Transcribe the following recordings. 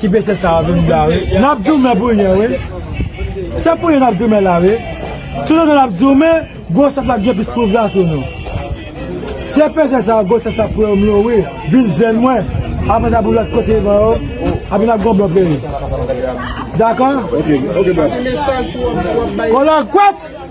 Ti mesye sa a vin blan wi. N ap goumen pou yen wi. Se pou yen n ap goumen la wi. Tout otan n ap goumen, gwo sèt la ap gen plis pouvwa sou nou. Se peze sa a gwo sèt sa pran m yo wi. Vin jwenn mwen. Apre sa pou lòt kote m yo. Apre n ap gen yon bon peyi. Dakò? Kòlògwòt!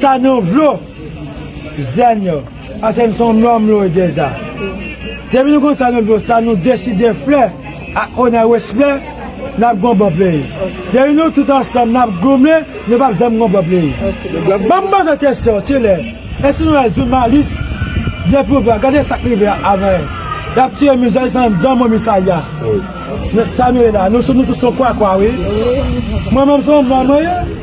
Sa nou vle jèn yo pase m son nonm lwe deja. Depi nou konn sa nou vle sa nou deside fle ak onè respè nap gon bon peyi. Depi nou tout ansanm nap goumen nou pap janm gon bon peyi. Banm poze kesyon ti lè eske nou wè jounalis gen pouvwa gade sak rive a avèl yap tiye min jèn san jan momi sa ya sa nou ye la nou tout son kwakwa wi mwen menm son nonm mwen ye.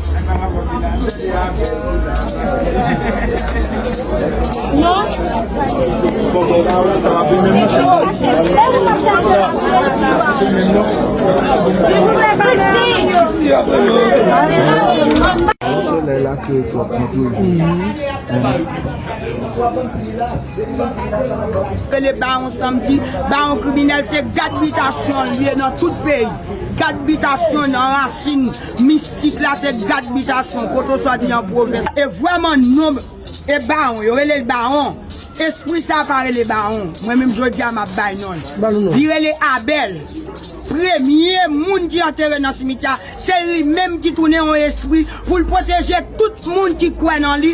Rele bawon samdi, bawon kriminèl se gad bitasyon l ye nan tout peyi. Gad bitasyon nan rasin. Mistik la te gad bitasyon koto soti an pwovens. E vweman nom e bawon yo relel bawon espri sa pa rele bawon mwen menm jodia map bay nonl li rele abel premye moun ki antere nan simityè a se li menm ki tounen yon espri poul pwoteje tout moun ki kwè nan li